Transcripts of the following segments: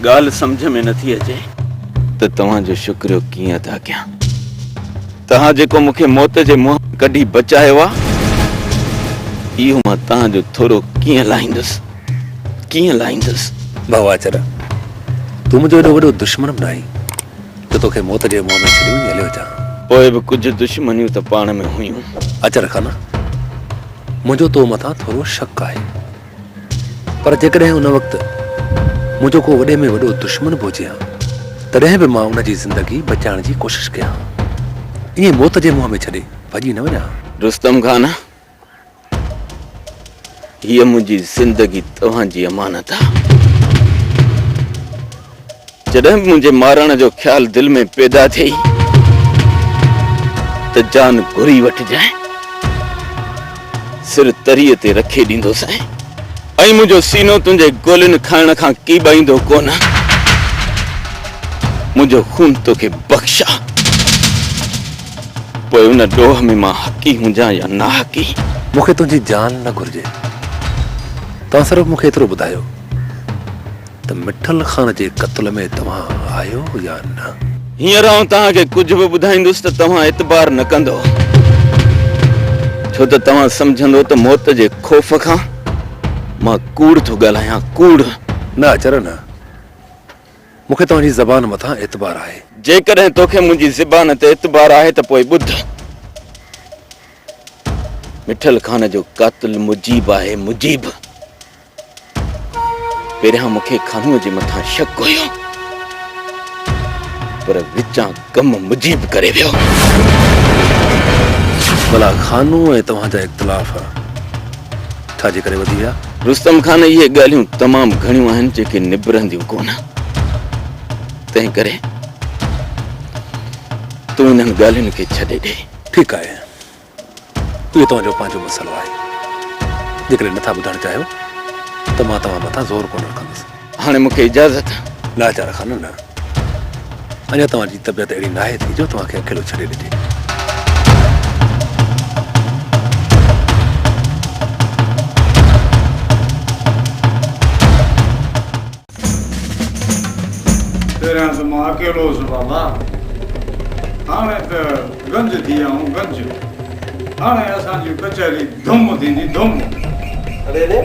ڳالهه سمجهه ۾ نه ٿي اچي ته توهان جو شڪريو ڪيئن ادا ڪيان توهان جيڪو مون کي موت جي منهن ڪڍي بچايو آهي اهو مان توهان جو ٿورو ڪيئن لاهيندس ڪيئن لاهيندس ڀاء آچر تون منهنجو ايڏو وڏو دشمن به ناهين جو توکي موت جي منهن ۾ ڇڏيون هليو اچان. پوء به ڪجهه دشمنيون ته پاڻ ۾ هيون. اچر خان، منهنجو تو مٿان ٿورو شڪ آهي. پر جيڪڏهن ان وقت منهنجو ڪو وڏي ۾ وڏو دشمن به هجي هان، تڏهن به مان ان جي زندگي بچائڻ جي ڪوشش ڪيان هان. ائين موت جي منهن ۾ ڇڏي ڀڄي نه وڃان هان. رستم خان، هيء منهنجي زندگي توهان جي امانت آ. جڏهن به منهنجي مارڻ جو خيال دل ۾ پيدا ٿئي ته جان گهري وٺجانء. سر تريء تي رکي ڏيندوسانء ۽ منهنجو سينو تنهنجي گولين کائڻ کان ڪيٻائيندو ڪونه. منهنجو خون توکي بخش آ. پوء ان ڏوهه ۾ مان حقي هجان يا ناحقي. مون کي تنهنجي جان نه گهرجي. توهان صرف مون کي ايترو ٻڌايو ته مٺل خان جي قتل ۾ توهان آهيو يا نه؟ هينئر آئون توهان کي ڪجهه به ٻڌائيندس ته توهان اعتبار نه ڪندؤ. ڇو ته توهان سمجهندؤ ته موت جي خوف کان مان ڪوڙ ٿو ڳالهايان، ڪوڙ. نه اچر نه. مون کي توهان جي زبان مٿان اعتبار آهي. جيڪڏهن تو کي منهنجي زبان تي اعتبار آهي ته پوء ٻڌ. مٺل خان جو قاتل مجيب آهي، مجيب. پهريان مون کي خانوء جي مٿان شڪ هيو پر وچان. ڪم مجيب ڪري ويو. ڀلا خانو ۽ توهان جا اختلاف ڇا جي ڪري وڌي ويا؟ رستم خان اهي ڳالهيون تمام گهڻيون آهن جيڪي نبرنديون ڪونه. تنهن ڪري تون انهن ڳالهين کي ڇڏي ڏي. ٺيڪ آهي. اهو توهان جو پنهنجو مسئلو آهي. جيڪڏهن نٿا ٻڌڻ چاهيو ته مان توهان مٿان زور ڪونه رکندس. هاڻي مون کي اجازت. لاچار خانه نه. اڃا توهان جي طبيعت اهڙي ناهي ٿي جو توهان کي اڪيلو ڇڏي ڏجي. پهريان ته مان اڪيلو هوس بابا، هاڻي ته گنج ٿي ويا آهيون گنج، هاڻي اسان جي ڪچهري ڌم ٿيندي ڌم. ري ري،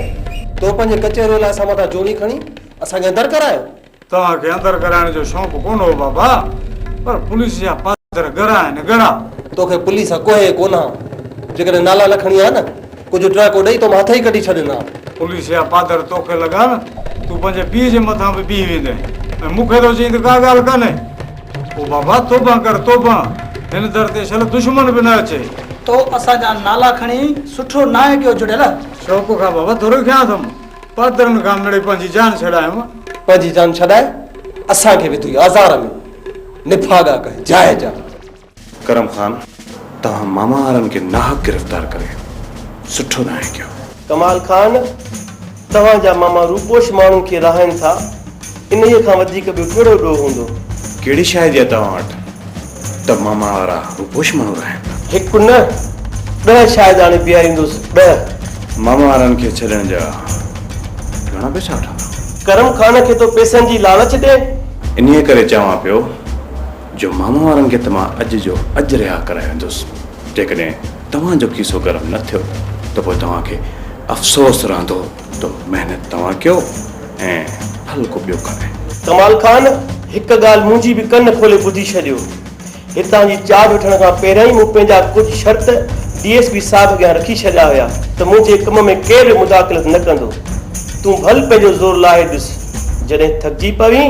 تو پنهنجي ڪچهريء لاء اسان مٿان جوڻي کڻي اسان کي اندر ڪرايو؟ توهان کي اندر ڪرائڻ جو شوق ڪونه هو بابا، پر پوليس جا پاسدر ڳرا آهن ڳرا. توکي پوليس سان ڪوهي ڪونه، جيڪڏهن نالا نه کڻي ها نه. ڪجهه ٽهڪو ڏئي تو مان هٿ ئي ڪڍي ڇڏيندا. پوليس يا پادر توکي لڳائن، تون پنهنجي پيء جي مٿان به بيهي ويندين ۽ مون کي ٿو چئين ته ڪا ڳالهه ڪانهي. او بابا توبه ڪر توبه، هن در تي شل دشمن به نه اچي. تو اسان جا نالا کڻي سٺو ناهي ڪيو جڙيل. شوق کان بابا ٿورو کيان اٿم. پادرن کان مڙي پنهنجي جان ڇڏايم. پنهنجي جان ڇڏائي اسان کي وڌوئي آزار ۾. نڀاڳا ڪهه جاء جا. ڪرم خان توهان ماما وارن کي ناحق گرفتار ڪري سٺو ناهي ڪيو. ڪمال خان توهان جا ماما روپوش ماڻهن کي راهين ٿا انهيء کان وڌيڪ ٻيو ڪهڙو ڏوهه هوندو. ڪهڙي شاهدي آ توهان وٽ ته ماما وارا روپوش ماڻهو راهين ٿا. هڪ نه ڏهه شاهد آڻي بيهاريندوس ڏهه. ماما وارن کي ڇڏڻ جا گهڻا پئسا وٺندا. ڪرم خان کي تو پئسن جي لالچ ڏي. انهيء ڪري چوان پيو. جو ماما وارن کي ته مان اڄ جو اڄ رها ڪرائي ويندس، جيڪڏهن توهان جو کيسو گرم نه ٿيو ته پوء توهان کي افسوس رهندو ته محنت توهان ڪيو ۽ ڦل ڪو ٻيو کائي. ڪمال خان، هڪ ڳالهه منهنجي به ڪن کولي ٻڌي ڇڏيو، هتان جي چارج وٺڻ کان پهريائين مون پنهنجا ڪجهه شرط ڊي ايس پي صاحب اڳيان رکي ڇڏيا هيا ته منهنجي ڪم ۾ ڪير به مداخلت نه ڪندو، تون ڀل پنهنجو زور لاهي ڏس، جڏهن ٿڪجي پوين.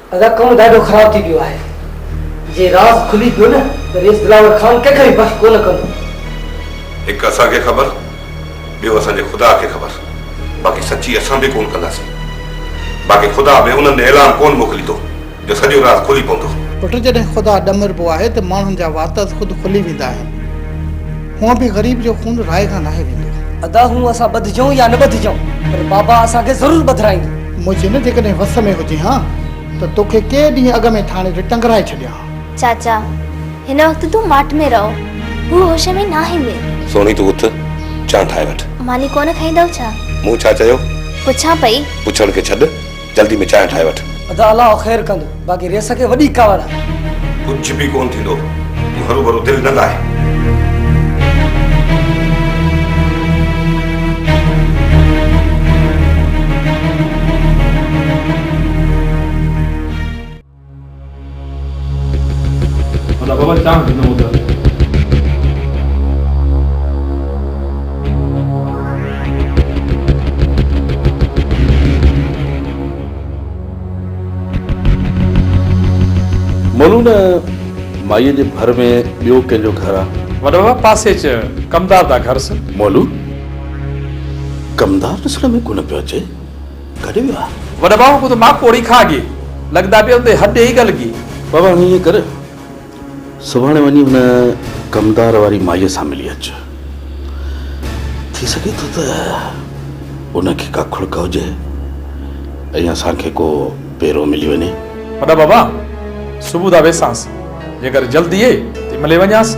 رقم ڏاڍو خراب ٿي پيو آهي جي راز کلي پيو نه ته ويس دلاور خان ڪنهن کي به بخش ڪونه ڪندو. هڪ اسان کي خبر ٻيو اسان جي خدا کي خبر باقي سچي اسان به ڪونه ڪنداسين باقي خدا به انهن ۾ اعلان ڪونه موڪليندو جو سڄو راز کلي پوندو. پٽ جڏهن خدا ڏمربو آهي ته ماڻهن جا واتز خود کلي ويندا آهن. هونء به غريب جو خون راهي کان ناهي ويندو. ادا هونء اسان ٻڌجون يا نه ٻڌجون پر بابا اسان کي ضرور ٻڌرائيندو. منهنجي نه جيڪڏهن وس ۾ هجين ها ته توکي ڪي ڏينهن اڳ ۾ ٿاڻي تي ٽنگرائي ڇڏيان ها. چاچا هن وقت تون ماٺ ۾ رهو هو هوش ۾ ناهي مير. سهڻي تون اٿ چانهه ٺاهي وٺ. ماني ڪونه کائيندؤ ڇا؟ مون ڇا چيو؟ پڇان پئي. پڇڻ کي ڇڏ. جلدي ۾ چانهه ٺاهي وٺ. ادا الله خير ڪندو باقي ريس کي وڏي ڪاوڙ آهي. ڪجهه به ڪونه ٿيندو تون هروڀرو دل نه لاهه. مولو نه مائيء جي ڀر ۾ ٻيو ڪنهن جو گهر آ؟ وڏو بابا پاسي چه ڪمدار دا گهر سه. مولو ڪمدار ڏسڻ ۾ ڪونه پيو اچي. گهٽ ويو آ. وڏا ڀاء ڪو ته مان ڪوڙي کان گي لڳدا پي اوندي هڏ ڏيئي گل گي. بابا هاڻي ائين ڪر سڀاڻي وڃي هن ڪمدار واري مائيء سان ملي اچ ٿي سگهي ٿو ته ان کي ڪا کڙڪ هجي ۽ اسان کي ڪو پيرو ملي وڃي. وڏا بابا صبح ڌا ويسانس جيڪر جلدي اي تي ملي وڃانس.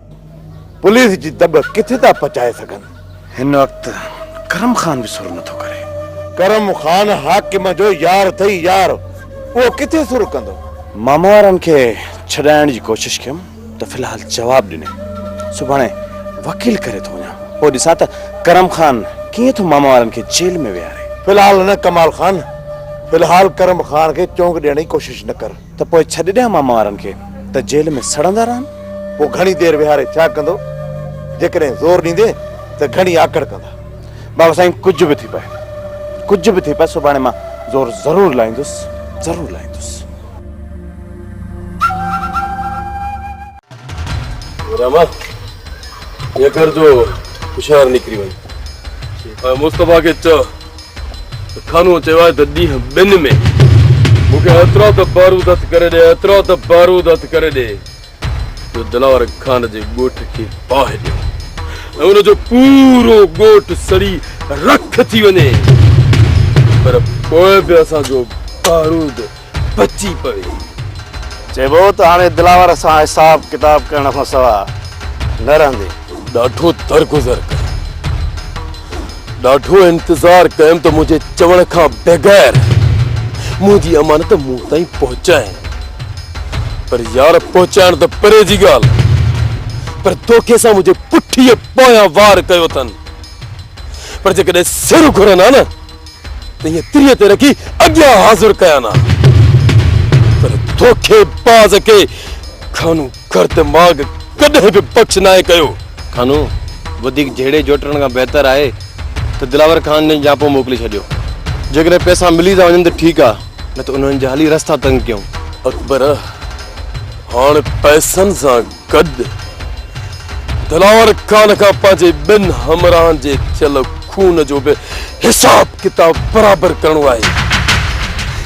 پوليس جي دٻ ڪٿي ٿا پچائي سگهن. هن وقت ڪرم خان به سر نٿو ڪري. ڪرم خان حاڪم جو يار اٿئي يار اهو ڪٿي سر ڪندو. ماما وارن کي ڇڏائڻ جي ڪوشش ڪيم ته في الحال جواب ڏني. سڀاڻي وڪيل ڪري ٿو وڃان پوء ڏسان ته ڪرم خان ڪيئن ٿو ماما وارن کي جيل ۾ ويهاري. في الحال نه ڪمال خان في الحال ڪرم خان کي چونڪ ڏيڻ جي ڪوشش نه ڪر. ته پوء ڇڏي ڏيان ماما وارن کي ته جيل ۾ سڙندا رهن؟ پوء گهڻي دير ويهاري ڇا ڪندو؟ جيڪڏهن زور ڏيندي ته گهڻي آڪڙ ڪندا. بابا سائين ڪجهه به ٿي پئي ڪجهه به ٿي پئي سڀاڻي مان زور ضرور لائيندس ضرور لائيندس. رحمان يڪر جو هوشيار نڪري وڃ ۽ مصطفيٰ کي چئه ته خانو چيو آهي ته ڏينهن ٻن ۾ مون کي ايترا ته بارود هٿ ڪري ڏي ايترا ته بارود هٿ ڪري ڏي جو دلاور خان جي ڳوٺ کي باهه ڏيو ۽ ان جو پورو ڳوٺ سڙي رک ٿي وڃي پر پوء به اسان جو بارود بچي پوي. چئبو ته هاڻي دلاور سان حساب ڪتاب ڪرڻ کان سوا نه رهندي. ڏاڍو درگذر ڪيم. ڏاڍو انتظار ڪيم ته منهنجي چوڻ کان بغير منهنجي امانت مون تائين پهچائين. پر يار پهچائڻ ته پري جي ڳالهه پر دوکي سان منهنجي پٺيء پويان وار ڪيو اٿن. پر جيڪڏهن سر گهرن ها نه. تنهنجي تريء تي رکي اڳيان حاضر ڪيان ها، پر دوکي باز کي کانو گرد ماڳ ڪڏهن به بخش ناهي ڪيو. کانو وڌيڪ جهيڙي جهوٽڻ کان بهتر آهي ته دلاور خان ڏانهن جهاپو موڪلي ڇڏيو. جيڪڏهن پئسا ملي ٿا وڃن ته ٺيڪ آهي، نه ته انهن جا هلي رستا تنگ ڪيون. اڪبر، هاڻ پئسن سان گڏ دلاور خان کان پنهنجي ٻن همراهن جي ٿيل خون جو به حساب ڪتاب برابر ڪرڻو آهي.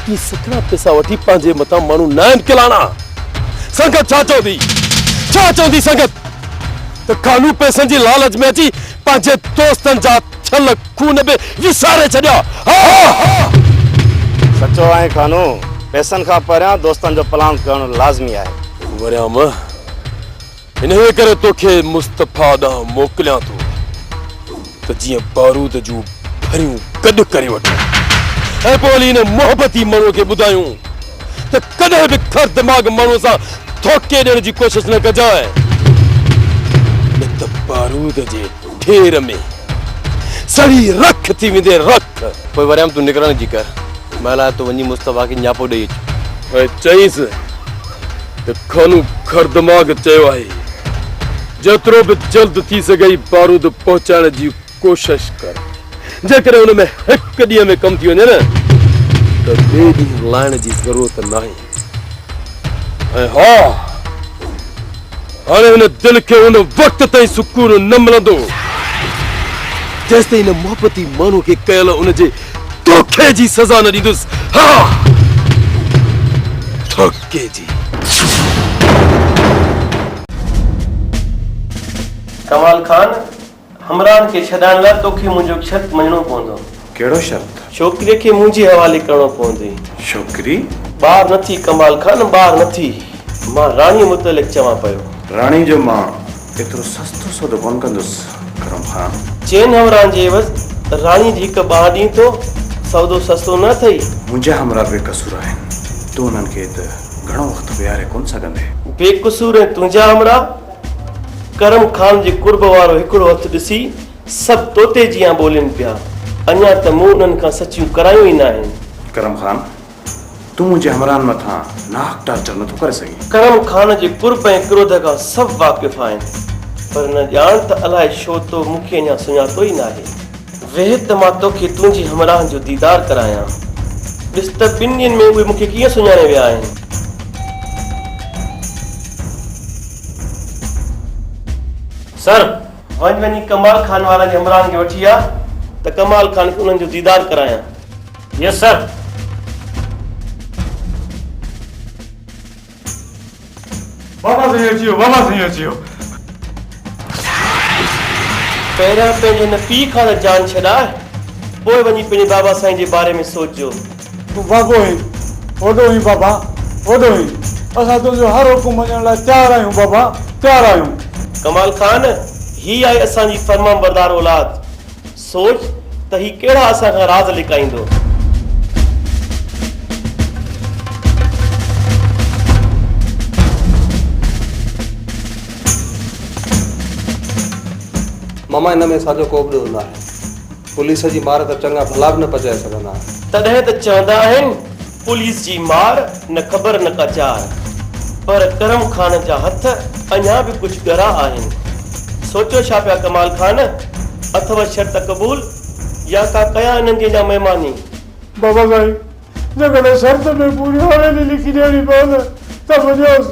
هي سکڻا پيسا وٺي پنهنجي مٿان ماڻهو نه آهن کلاڻا. سنگت ڇا چوندي؟ ڇا چوندي سنگت؟ ته خانو پيسن جي لالچ ۾ اچي پنهنجي دوستن جا ٿيل خون به وساري ڇڏيا ها. سچو آهين خانو، پئسن کان پهريان دوستن جو پلانگ ڪرڻ لازمي آهي. مريم، انهيء ڪري توکي مصطفيٰ ڏانهن موڪليان ٿو ته جيئن بارود جون ڀريون گڏ ڪري وٺون ۽ پوء ولي ان محبتي مڻو کي ٻڌايون ته ڪڏهن به کر دماغ ماڻهوء سان ڌوڪي ڏيڻ جي ڪوشش نه ڪجانء، نه ته بارود جي ڍير ۾ سڙي رک ٿي ويندين، رک! پوء وريم تون نڪرڻ جي ڪر، مهل آهي ته وڃي مصطفيٰ کي نياپو ڏيئي اچ. ائين چئيس ته خانو کر دماغ چيو آهي، جيترو به جلد ٿي سگهئي بارود پهچائڻ جي ڪوشش ڪر جيڪڏهن ان ۾ هڪ ڏينهن ۾ ڪم ٿي وڃي نه ته ٻئي ڏينهن لائڻ جي ضرورت ناهي ۽ ها هاڻي هن دل کي ان وقت تائين سڪون نه ملندو جيستائين ان محبتي ماڻهو کي ڪيل ان جي دوکي جي سزا نه ڏيندس ها ڌوڪي جي. ڪمال خان همراهن کي ڇڏائڻ لاء توکي منهنجو شرط مڃڻو پوندو. ڪهڙو شرط؟ ڇوڪريء کي منهنجي حوالي ڪرڻو پوندي. ڇوڪري؟ ٻار نه ٿي ڪمال خان، ٻار نه ٿي. مان راڻيء متعلق چوان پيو. راڻيء جو مان ايترو سستو سودو ڪونه ڪندس ڪرم خان. چئن همراهن جي عيوض راڻيء جي هڪ ٻانهن ڏئين ٿو، سودو سستو نه اٿئي. منهنجا همراهه بي قصور آهن، تون انهن کي هت گهڻو وقت ويهاري ڪونه سگهندين. بي قصور ۽ تنهنجا همراهه ڪرم خان جي قرب وارو هڪڙو هٿ ڏسي سڀ طوطي جيان ٻولين پيا. اڃا ته مون انهن کان سچيون ڪرايون ئي ناهن. ڪرم خان! تون منهنجي همراهن مٿان ناحق ٽارچر نٿو ڪري سگهين. ڪرم خان جي قرب ۽ ڪروڌ کان سڀ واقف آهن. پر نه ڄاڻ ته الائي ڇو تو مون کي اڃا سڃاتو ئي ناهي. ويهه ته مان توکي تنهنجي همراهن جو ديدار ڪرايان. ڏس ته ٻن ڏينهن ۾ اهي مون کي ڪيئن سڃاڻي ويا آهن. سر! وڃ وڃي ڪمال خان وارن جي همراهن کي وٺي آ ته ڪمال خان کي انهن جو ديدار ڪرايان. Yes sir! بابا سائين اچي ويو بابا سائين اچي ويو. پهريان پنهنجي هن پيء کان ته جان ڇڏاء پوء وڃي پنهنجي بابا سائين جي باري ۾ سوچجو. تون واڳو هين وڏو هين بابا وڏو هين اسان تنهنجو هر حڪم مڃڻ لاء تيار آهيون بابا تيار آهيون. ڪمال خان هي آهي اسان جي فرمانبردار اولاد. سوچ ته هي ڪهڙا اسان کان راز لڪائيندو. ماما ان ۾ اسان جو ڪوبه ڏوهه ناهي. پوليس جي مار ته چڱا ڀلا به نه پچائي سگهندا آهن. تڏهن ته چوندا آهن پوليس جي مار نه خبر نه ڪا چار. پر ڪرم خان جا هٿ اڃا به ڪجهه ڳرا آهن. سوچيو ڇا پيا ڪمال خان؟ اٿو شرط قبول يا ڪا ڪيا انهن جي اڃا مهماني؟ بابا سائين جيڪڏهن شرط به پوري حويلي لکي ڏيڻي پوندء ته به ڏيوس.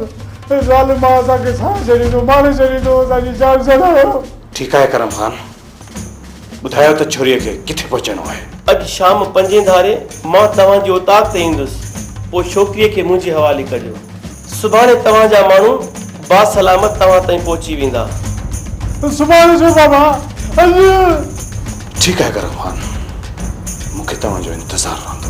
هي ظالم مان اسان کي ساهه ڇڏيندو، ماري ڇڏيندو، اسان جي جان ڇڏايو. ٺيڪ آهي ڪرم خان. ٻڌايو ته ڇوريء کي ڪٿي پهچڻو آهي. اڄ شام پنجين ڌاري مان توهان جي اوطاق تي ايندس، پوء ڇوڪريء کي منهنجي حوالي ڪجو. سڀاڻي توهان جا ماڻهو باسلامت توهان تائين پهچي ويندا. سڀاڻي ڇو بابا، اڄ. ٺيڪ آهي گرم خان، مون کي توهان جو انتظار رهندو.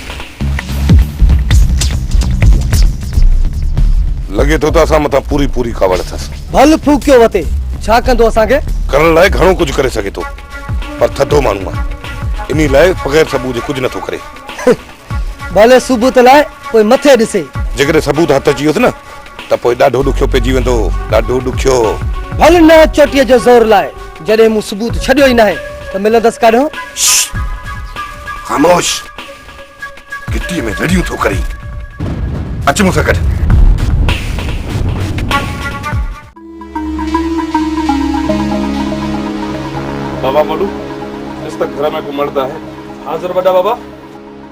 لڳي ٿو ته اسان مٿان پوري پوري ڪاوڙ اٿس. ڀل ڦوڪيو وتي ڇا ڪندو اسان کي. ڪرڻ لاء گهڻو ڪجهه ڪري سگهي ٿو پر ٿڌو ماڻهو آهي انهي لاء بغير سبوت جي ڪجهه نٿو ڪري. ڀلي سبوت لاء پوء مٿي ڏسي. جيڪڏهن سبوت هٿ اچي ويس نه ته پوء ڏاڍو ڏکيو پئجي ويندو، ڏاڍو ڏکيو. ڀل نه چوٽيء جو زور لاء، جڏهن مون ثبوت ڇڏيو ئي ناهي ته ملندس ڪاڏهون؟ شش! خاموش! گهٽيء ۾ رڙيون ٿو ڪرين. اچ مون سان گڏ. بابا مولو، ڏس ته گهر ۾ ڪو مرد آهي. حاضر وڏا بابا.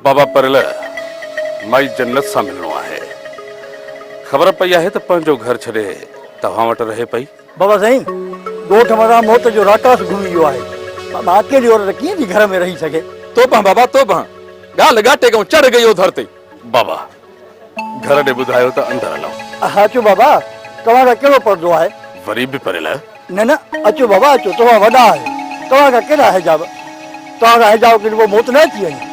بابا پريل مائي جنت سان ملڻو آهي. خبر پئي آهي ته پنهنجو گهر ڇڏي توهان وٽ رهي پئي. بابا سائين ڳوٺ مٿان موت جو راڪاس گهمي ويو آهي. بابا اڪيلي عورت ڪيئن ٿي گهر ۾ رهي سگهي. توبه بابا توبه ڳالهه ڳاٽي ڪيون چڙهه گئي اوڌر تي. بابا گهر ڏي ٻڌايو ته اندر هلئون. اها اچو بابا، توهان کان ڪهڙو پردو آهي؟ وري به پريل آهيو؟ نه نه، اچو بابا اچو، توهان وڏا آهيو، توهان کان ڪيڏا حجاب، توهان کان حجاب ڪڍي پوء موت نه اچي وڃي.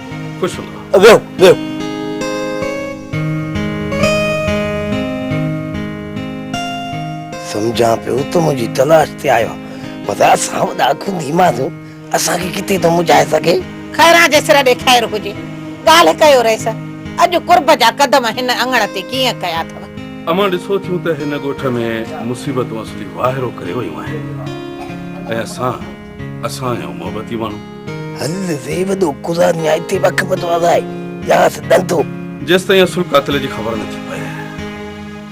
خوش رهو ويهو ويهو. سمجهان پيو تون منهنجي تلاش تي آيو آهين پر اسان وڏا کندي ماڻهو اسان کي ڪٿي ٿو منجهائي سگهين. خيران جي سر ڏي خير هجي. ڳالهه ڪيو رئيس. اڄ قرب جا قدم هن اڱڻ تي ڪيئن ڪيا اٿو. امان ڏسو ٿيون ته هن ڳوٺ ۾ مصيبتون اصلي واهرو ڪري ويون آهن ۽ اسان. اسان آهيون محبتي ماڻهو. حضرت زيد و قضا نهايتي وقفت وضعي ياس ڏندو. جيستائين اصل قاتل جي خبر نه ٿي پئي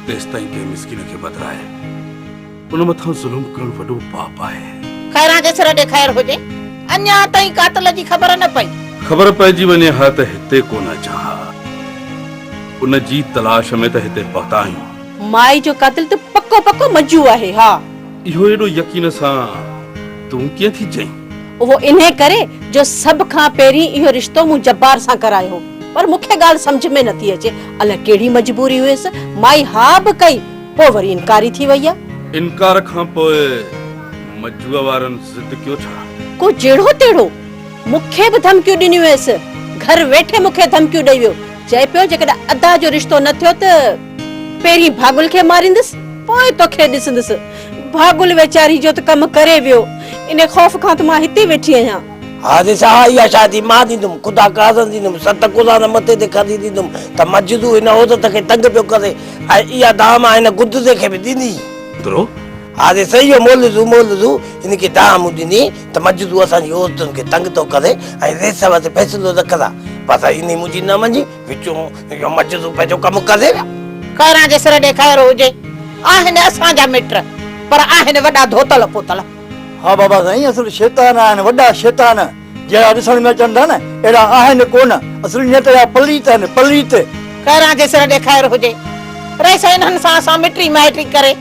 تيستائين ڪنهن مسڪين کي بدرائي ان مٿان ظلم ڪرڻ وڏو پاپ آهي. خيران کي سر ڏي خير هجي. اڃا تائين قاتل جي خبر نه پئي. خبر پئجي وڃي ها ته هتي ڪونه اچان ها. ان جي تلاش ۾ ته هتي پهتا آهيون. مائي جو قاتل ته پڪو پڪو منجو آهي ها. اهو ايڏو يقين سان تون ڪيئن ٿي چئين؟ اهو انهي ڪري جو سڀ کان پهرين اهو رشتو مون جبار سان ڪرايو هو. پر مون کي ڳالهه سمجهه ۾ نٿي اچي الائي ڪهڙي مجبوري هيس، مائي ها به ڪئي پوء وري انڪاري ٿي وئي آ. انڪار کان پوء مجوء وارن ضد ڪيو ڇا؟ ڪو جهڙو تهڙو مون کي به ڌمڪيون ڏنيون هيس. گهر ويٺي مون کي ڌمڪيون ڏئي ويو. چئي پيو جيڪڏهن ادا جو رشتو نه ٿيو ته. پهرين ڀاڳل کي ماريندس پوء توکي ڏسندس. ڀاڳل ويچاري جو ته ڪم ڪري ويو. ان خوف کان ته مان هتي ويٺي آهيان. ها جي ساهه اها شاهدي مان ڏيندم. خدا کي اذن ڏيندم. ست قرآن مٿي تي کڻي ڏيندم ته مجدو هن عورت کي تنگ پيو ڪري ۽ اها دانهن مان هن گدزي کي به ڏني. گرو. ها جي سيو مولوي مولوي هن کي دانهن مون ڏني ته مجدو اسان جي عورتن کي تنگ ٿو ڪري ۽ ريس وٽ فيصلو نه ڪراء. پر انهي منهنجي نه مڃي. وچون اهو مجذوب پنهنجو ڪم ڪندي ويا. خيران جي سر ڏي خير هجي. آهن اسان جا مٽ پر آهن وڏا ڌوتل پوتل. ها بابا سائين اصل شيطان آهن وڏا شيطان جهڙا ڏسڻ ۾ اچن ٿا نه اهڙا آهن ڪونه اصل نيت جا پليت آهن پليت. خيران جي سر ڏي خير هجي. رئيس انهن سان اسان مٽي مائٽي ڪري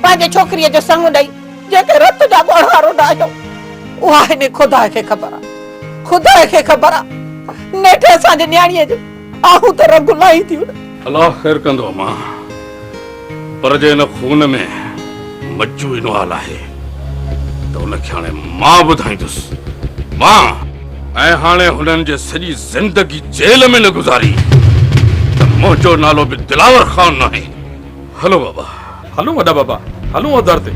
پنهنجي ڇوڪريء جو سڱ ڏئي. جيڪي رت جا ڳوڙها روندا آهيو اها هني خدا کي خبر آ خدا کي خبر آ نيٺ اسان جي نياڻيء جون آهون ته رڳ لاهي ٿيون نه. الله خير ڪندو اما پر جي ان خون ۾ مجو انو آل آهي ته ان کي هاڻي مان ٻڌائيندس مان ۽ هاڻي هنن جي سڄي زندگي جيل ۾ نه گذاري ته منهنجو نالو به دلاور خان ناهي هلو بابا. هلون وڏا بابا هلون اوڌر تي.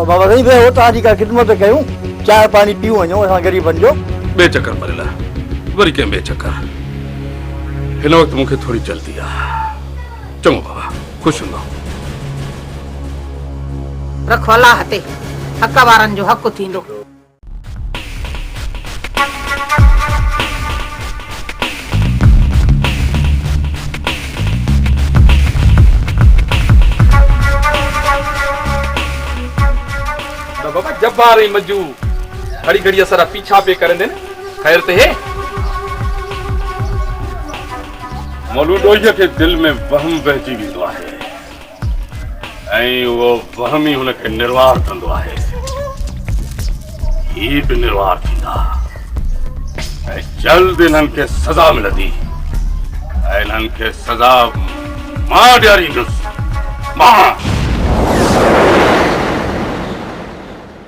بابا سائين ويهو توهان جي ڪا خدمت ڪيون چانهه پاڻي پيون وڃون اسان غريبن جو. ٻئي چڪر مري لا وري ڪنهن ٻئي چڪر هن وقت مون کي ٿوري جلدي آ چڱو بابا خوش هوندو. رکو الله تي حق وارن جو حق ٿيندو. جبار ۽ مجو گھڙي گھڙي اسان را پيڇا پئي ڪرن ٿين خير ته هي مولوي ڏوهي کي دل ۾ وهم وهجي ويندو آهي ۽ اهو وهم ئي هن کي نروار ڪندو آهي. هي به نروار ٿيندا ۽ جلد انهن کي سزا ملندي ۽ انهن کي سزا مان ڏياريندس. مان!